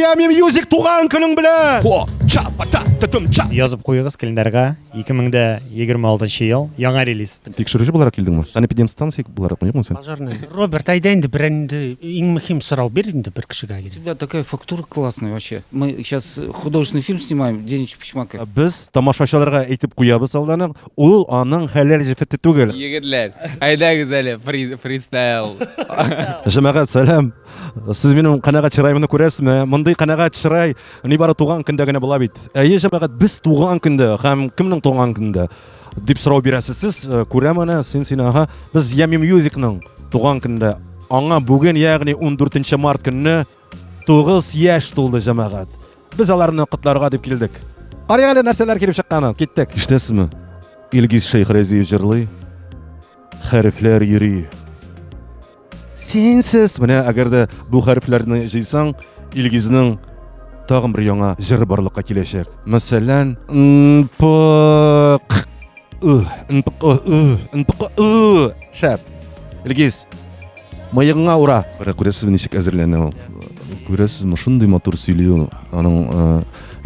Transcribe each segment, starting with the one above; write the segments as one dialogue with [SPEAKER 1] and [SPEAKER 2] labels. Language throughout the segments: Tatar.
[SPEAKER 1] Ями Мьюзик туган көнең белән! Язып куегыз календарьга
[SPEAKER 2] 2026 ел яңа релиз. Тикшерүче буларак килдеңме?
[SPEAKER 1] Санэпидемстанция буларак юкмы сен? Пожарный. Роберт, әйдә
[SPEAKER 3] инде бер инде иң мөһим сорау бир инде бер кешегә. У тебя такая фактура
[SPEAKER 4] классная вообще. Мы сейчас художественный фильм снимаем, Денич Пучмака. Без тамашачыларга
[SPEAKER 1] әйтеп куябыз алдан ук. Ул аның хәләл җефете түгел. Егетләр,
[SPEAKER 4] әйдәгез әле фристайл.
[SPEAKER 1] Җәмәгать, сәлам. Сез минем канәгать чыраемны күрәсезме? Мондый канәгать чырай нибары туган көндә генә була бит. Әйе, җәмәгать, без туган көндә һәм кемнең туган көндә? дип сорау бирәсез сез. Э, Күрәм аны, син син ага. Без Ями Мьюзикның туган көндә аңа бүген, ягъни 14 март көнне Тугыз яшь тулды, җәмәгать. Без аларны котларга дип килдек. Карыйк әле нәрсәләр килеп чыкканын. Киттек. Ишетәсезме? Илгиз Шәйхрәзиев җырлый. Хәрефләр йөри. Синсез. Менә әгәр дә бу хәрефләрне җыйсаң, Илгизнең тагын бер яңа җыры барлыкка киләчәк. Мәсәлән, нпк ы, нпк ы, нпк ы. Шәп. Илгиз, Мыегыңа ура! Кара күрәсез ничек әзерләнә ул. Күрәсез ме шундый матур сөйли ул. Аның э,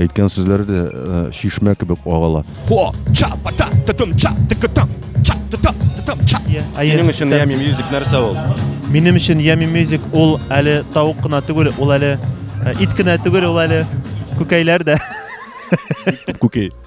[SPEAKER 1] әйткән сүзләре дә э, шишмә кебек агала. Хо, ча, пата, тытым, ча, тыкытам, ча, тыта, тытам, ча. Синең өчен Ями Мьюзик нәрсә ул? Минем өчен Ями
[SPEAKER 2] Мьюзик ул әле тавык кына түгел, ул әле э, ит кенә түгел, ул әле күкәйләр дә.
[SPEAKER 1] Күкәй.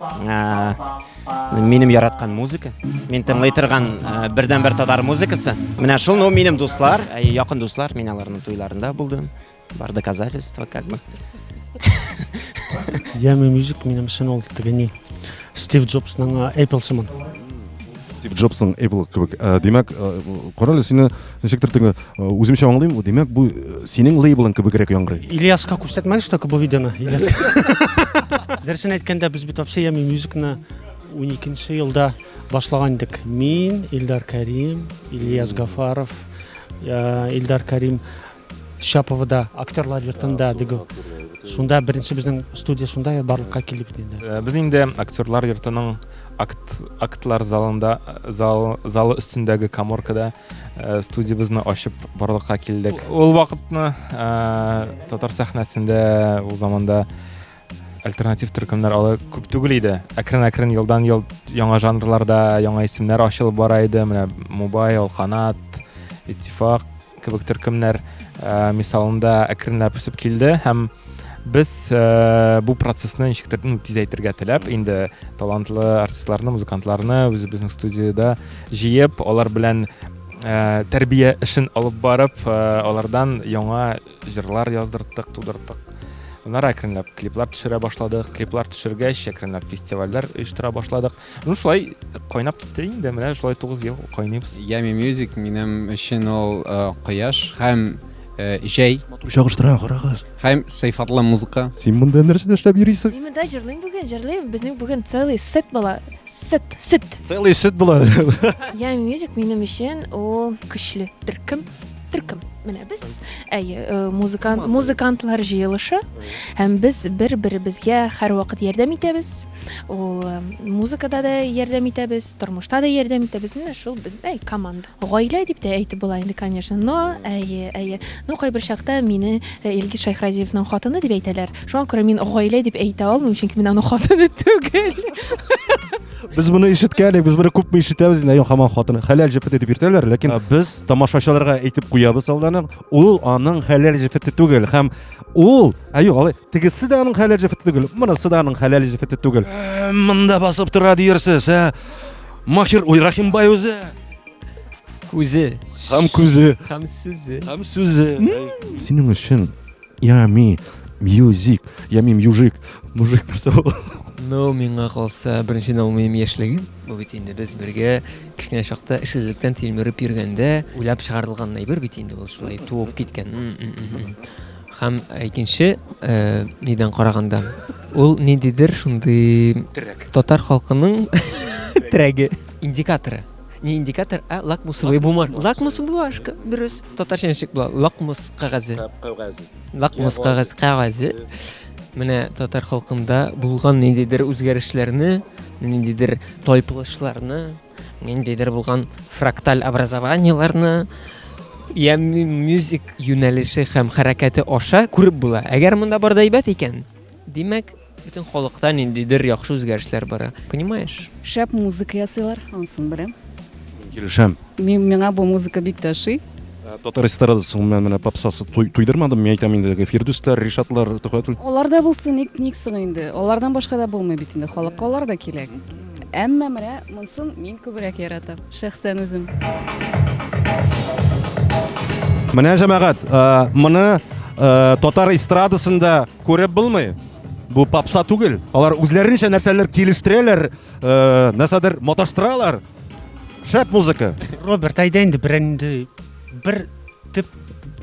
[SPEAKER 5] Ә, минем яраткан музыка. Мин тыңлый торган ә, бердәнбер татар музыкасы. Менә шул, ну, минем дуслар, ә, якын дуслар, мин аларның туйларында булдым. Бар доказательства, как бы.
[SPEAKER 3] Яме музык минем өчен ул тегене Стив Джобсның Apple сыман. Стив
[SPEAKER 1] Джобсның Apple кебек. Ә, Димәк, ә, карале сине Ничектер теге э, үземчә аңлыйм, димәк, бу э, синең лейблың кебегрәк яңгырый. Ильяска күрсәтмәгез
[SPEAKER 3] только бу видеоны, Ильяска. Дөресен әйткәндә, без бит вообще Ями мюзикны 12 елда башлаган идек. Мин, Илдар Карим, Ильяс Гафаров, э, Илдар Карим Шаповда актерлар йортында диге. Шунда беренче безнең студия шунда барлыкка килеп инде. Без инде актерлар
[SPEAKER 6] йортының акт актлар залында зал залы өстендәге каморкада Э, студиябезне ачып барлыкка килдек ул вакытны э, татар сәхнәсендә ул заманда альтернатив төркемнәр алай күп түгел иде әкрен әкрен елдан ел яңа жанрларда яңа исемнәр ачылып бара иде менә мубай алканат иттифак кебек төркемнәр э, мисалында әкренләп үсеп килде һәм без э, бу процессны ничектер ну, тизәйтергә теләп инде талантлы артистларны музыкантларны үзебезнең студияда җыеп алар белән ә, тәрбия эшен алып барып ә, алардан яңа җырлар яздырттык тудырттык аннары әкренләп клиплар төшерә башладык клиплар төшергәч әкренләп фестивальләр оештыра башладык Ну, шулай кайнап китте инде, менә шулай 9 ел кайнайбыз. Ями Music минем
[SPEAKER 4] өчен ул кояш һәм җәй. Матур чагыштыра,
[SPEAKER 1] карагыз. Һәм сыйфатлы
[SPEAKER 4] музыка. Син монда нәрсә эшләп
[SPEAKER 1] йөрисең? Мин монда җырлыйм бүген,
[SPEAKER 7] җырлыйм. Безнең бүген целый сет була. Сет, сет. Целый сет
[SPEAKER 1] була. Ями Music
[SPEAKER 7] минем өчен ул көчле төркем. Төркем. Менә без, әйе, музыкант, музыкантлар җыелышы һәм без бер-беребезгә һәрвакыт ярдәм итәбез. ул э, музыкада да ярдәм итәбез тормышта да ярдәм итәбез менә шул әй команда гаилә дип тә әйтеп була инде конечно но әйе әйе но кайбер чакта мине э, илгиз шайхразиевның хатыны дип әйтәләр шуңа күрә мин гаилә дип әйтә алмыйм чөнки мин аның хатыны түгел
[SPEAKER 1] без моны ишеткән без моны күпме ишетәбез инде хаман хатыны хәләл җефете дип йөртәләр ләкин без тамашачыларга әйтеп куябыз алдан ул аның хәләл җефете түгел һәм ул әйе алай Тегесе дә аның хәләл җефете түгел, монысы да аның хәләл җефете түгел. Ә, Монда басып тора диярсез, ә? Махир Уйрахимбай үзе
[SPEAKER 8] Күзе һәм
[SPEAKER 1] күзе һәм сүзе. һәм
[SPEAKER 8] сүзе.
[SPEAKER 1] Синең өчен ями мьюзик, ями мьюжик, мужик нәрсә ул? Ну, миңа
[SPEAKER 8] калса, беренчедән ул минем яшьлегем. Бу бит инде без бергә кечкенә чакта эшсезлектән тилмереп йөргәндә уйлап чыгарылган әйбер бит инде ул шулай туып киткән. М, м, м, м. Һәм икенче нидән караганда, ул ниндидер шундый татар халкының терәге, индикаторы. Не индикатор, а лакмусовый бумажка. Лакмус бумажка, дөрес. Татарча ничек була? Лакмус кәгазе. Кәгазе. Лакмус кәгазе, кәгазе. Менә татар халкында булган ниндидер үзгәрешләрне, ниндидер тайпылышларны, Ниндидер булган фракталь образованиеләрне я мюзик юнәлеше һәм хәрәкәте аша күреп була. Әгәр монда бар да әйбәт икән, димәк, бөтен халыкта ниндидер яхшы үзгәрешләр бара. Понимаешь? Шәп музыка
[SPEAKER 9] ясыйлар, ансын беләм. Килешәм.
[SPEAKER 1] Мин миңа бу
[SPEAKER 9] музыка бик тә ошый. Э, татар эстрадасы
[SPEAKER 1] гомумән менә попсасы туйдырмадым мин әйтәм инде фирдүсләр ришатлар төхәтүл алар да булсын ник
[SPEAKER 9] ник соң инде алардан башка да булмый бит инде халыкка алар да кирәк Әмма менә монсын мин күбрәк яратам, шәхсән үзем.
[SPEAKER 1] Менә җәмәгать, э, моны э, татар эстрадасында күреп булмый. Бу попса түгел. Алар үзләренчә нәрсәләр килештерәләр, э, нәрсәдер маташтыралар. Шәп музыка. Роберт, әйдә инде
[SPEAKER 3] берәнде бер төп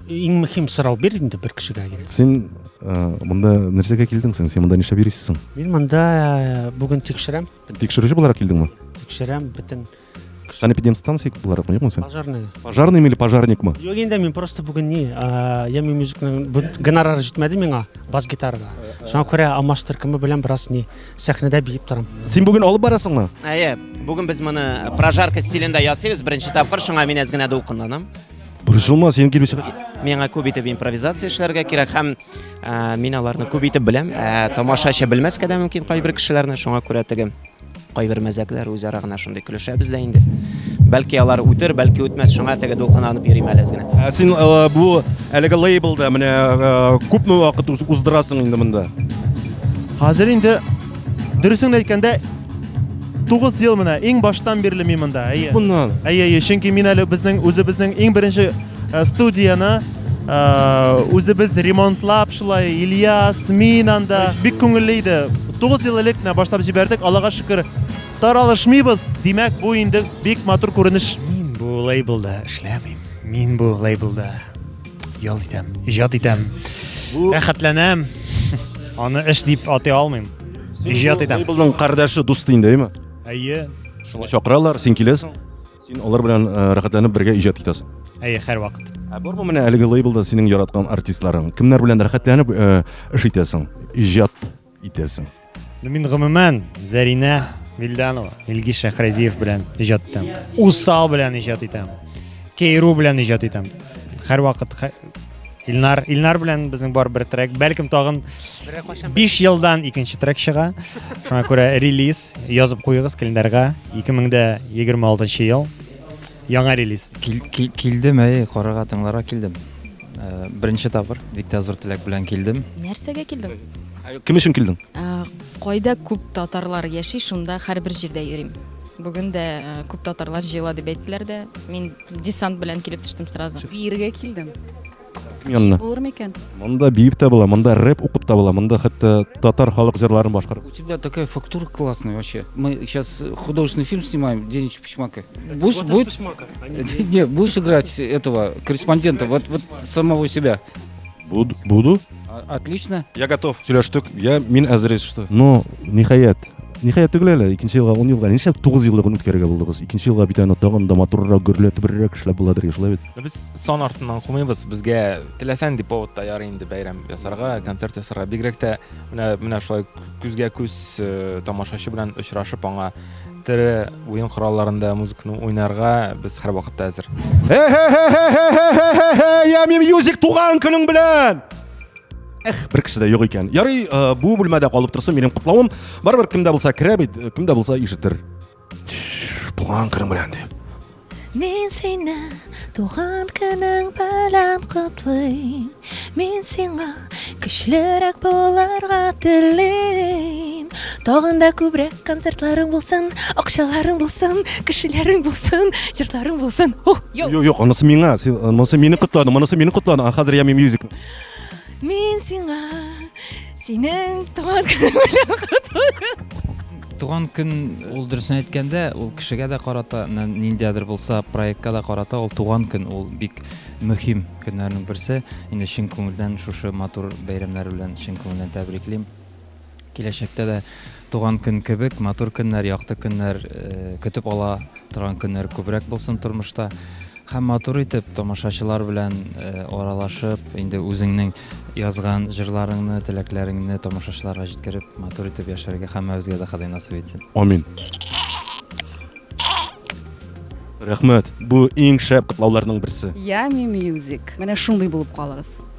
[SPEAKER 3] иң мөһим сорау бир инде бер кешегә генә син э,
[SPEAKER 1] монда нәрсәгә килдең син монда нишләп йөрисең мин монда э,
[SPEAKER 3] бүген тикшерәм тикшерүче буларак килдеңме
[SPEAKER 1] тикшерәм бөтен
[SPEAKER 3] санэпидемстанция
[SPEAKER 1] буларак юкмы син пожарный пожарный или
[SPEAKER 3] пожарникмы
[SPEAKER 1] юк инде мин просто
[SPEAKER 3] бүген не я мен мюзикның гонорары җитмәде миңа бас гитарага шуңа күрә алмаш төркеме белән бераз не сәхнәдә биеп торам. Син бүген алып барасыңмы?
[SPEAKER 1] Әйе, бүген без
[SPEAKER 5] моны прожарка стилендә ясыйбыз беренче тапкыр, шуңа мин әз генә дулкынланам. Борчылма, син
[SPEAKER 1] килүче. Миңа күп итеп
[SPEAKER 5] импровизация эшләргә кирәк һәм ә, мин аларны күп итеп беләм. Ә, тамашачы белмәскә дә мөмкин кайбер кешеләрне, шуңа күрә теге кайбер мәзәкләр үзара гына шундый көлешәбез дә инде. Бәлки алар үтер, бәлки үтмәс, шуңа теге дулкынланып йөрим әле генә. Ә син ә, бу
[SPEAKER 1] әлеге лейблда менә ә, күпме вакыт уз- уздырасың инде монда? Хәзер
[SPEAKER 2] инде дөресен әйткәндә 9 ел менә иң баштан бирле мин монда. Әйе. Моннан. Әйе, әйе, чөнки
[SPEAKER 1] мин әле
[SPEAKER 2] безнең үзебезнең иң беренче э, студияне э, үзебез ремонтлап шулай Ильяс, мин анда бик күңелле иде. 9 ел элек менә башлап җибәрдек, Аллага шөкер, таралышмыйбыз. Димәк, бу инде бик матур күренеш. Мин бу лейблда
[SPEAKER 10] эшләмим. Мин бу лейблда Ял итәм. Иҗат итәм. Рәхәтләнәм. Аны эш дип атый алмыйм. Иҗат итәм. Лейблның кардәше дусты
[SPEAKER 1] инде, әйме? Әйе.
[SPEAKER 10] Шулай чакыралар,
[SPEAKER 1] син киләсең. Син алар белән э, рәхәтләнеп бергә иҗат итәсең. Әйе, һәр вакыт.
[SPEAKER 10] Ә бармы менә әлеге
[SPEAKER 1] лейблда синең яраткан артистларың? Кемнәр белән рәхәтләнеп э, эш итәсең? Иҗат итәсең. Ну мин
[SPEAKER 10] гомумән Зәринә Вильданова, Илгиз Шәхразиев белән иҗат итәм. Усал белән иҗат итәм. Кейру белән иҗат итәм. Һәрвакыт Илнар, Илнар белән безнең бар бер трек. Бәлкем тагын 5 елдан икенче трек чыга. Шуңа күрә релиз язып куегыз календарьга 2026 ел. Яңа релиз. Кил, кил, килдем, әй,
[SPEAKER 11] карарга, тыңларга килдем. Э, беренче тапыр бик тә зур теләк белән килдем. Нәрсәгә килдең?
[SPEAKER 9] Кем өчен килдең?
[SPEAKER 1] Э, кайда
[SPEAKER 9] күп татарлар яши, шунда һәрбер җирдә йөрим. Бүген дә э, күп татарлар җыела дип әйттеләр дә. Мин десант белән килеп төштем сразу. Биергә килдем. Янына.
[SPEAKER 1] Булыр микән?
[SPEAKER 9] Монда биеп тә була,
[SPEAKER 1] монда рэп укып та була, монда хәтта татар халык җырларын башкарып. У тебя такая фактура
[SPEAKER 4] классная вообще. Мы сейчас художественный фильм снимаем День Чепчмака. Будешь, вот будет... Чепчмака, а не... Нет, будешь играть этого корреспондента, вот, вот самого себя. Буду. Буду.
[SPEAKER 1] А, отлично.
[SPEAKER 4] Я готов. Сөйләштек.
[SPEAKER 1] Я мин әзер что. Ну, ниһаять. Ниһаять түгел әле. Икенче елга 10 елга нишләп 9 еллыгын үткәрергә булдыгыз? Икенче елга бит аны тагын да матуррак, гөрләтебрәк эшләп буладыр, шулай бит. Без сон артыннан
[SPEAKER 6] кумыйбыз. Безгә теләсән дип поводта ярый инде бәйрәм ясарга, концерт ясарга. Бигрәк тә менә менә шулай күзгә күз э, тамашачы белән очрашып аңа тере уен коралларында музыканы уйнарга без һәр вакытта әзер.
[SPEAKER 1] Ями мьюзик туган көнең белән! Эх, бер кеше дә юк икән. Ярый, э, бу бүлмәдә калып торсын минем котлавым. Барыбер кемдә булса керә бит, э, кемдә булса ишетер. Туган көнең белән дип. Мин
[SPEAKER 7] сине туган көнең белән котлыйм. Мин сиңа көчлерәк булырга телим. Тагын да күбрәк концертларың булсын, акчаларың булсын, кешеләрең булсын, җырларың булсын. Ух, йо. Юк, юк, анысы
[SPEAKER 1] миңа. Син анысы мине котладың, монысы мине котладың. А хәзер Ями Мьюзик.
[SPEAKER 7] Мин сиңа синең туган көнең белән котлыйм. Туган
[SPEAKER 11] көн ул дөресен әйткәндә, ул кешегә дә карата, ниндидер булса проектка да карата, ул туган көн ул бик мөһим көннәрнең берсе. Инде чын күңелдән шушы матур бәйрәмнәр белән чын күңелдән тәбриклим. Киләчәктә дә туган көн кебек матур көннәр, якты көннәр көтеп ала торган көннәр күбрәк булсын тормышта. Һәм матур итеп тамашачылар белән аралашып, инде үзеңнең язган җырларыңны, теләкләреңне тамашачыларга җиткереп, матур итеп яшәргә һәммәбезгә дә Ходай насыйп итсен. Амин.
[SPEAKER 1] Рәхмәт. Бу иң шәп котлауларның берсе. Yummy Music.
[SPEAKER 12] Менә шундый булып калыгыз.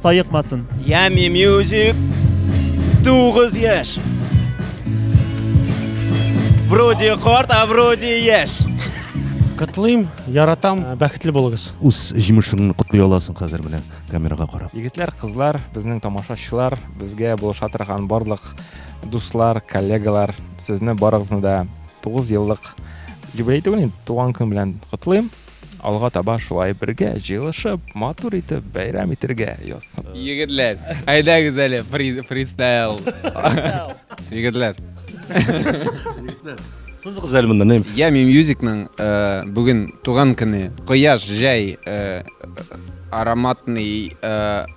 [SPEAKER 2] саекмасын. Ями
[SPEAKER 5] мюзик тугыз яшь. Вроде карт, а вроде яшь. Котлыйм,
[SPEAKER 3] яратам, бәхетле булыгыз. Үз җимешеңне
[SPEAKER 1] котлый аласың хәзер менә камерага карап. Егетләр, кызлар,
[SPEAKER 6] безнең тамашачылар, безгә булыша торган барлык дуслар, коллегалар, сезне барыгызны да 9 еллык юбилей түгел, туган көн белән котлыйм. Алга таба шулай бергә җыелышып, матур итеп бәйрәм итергә язсын. Егетләр,
[SPEAKER 13] әйдәгез әле фристайл. Егетләр.
[SPEAKER 1] Сызыгыз әле монда, нәм. Ями Мьюзикның
[SPEAKER 13] э, бүген туган көне. Кояш, җәй, э, ароматный э,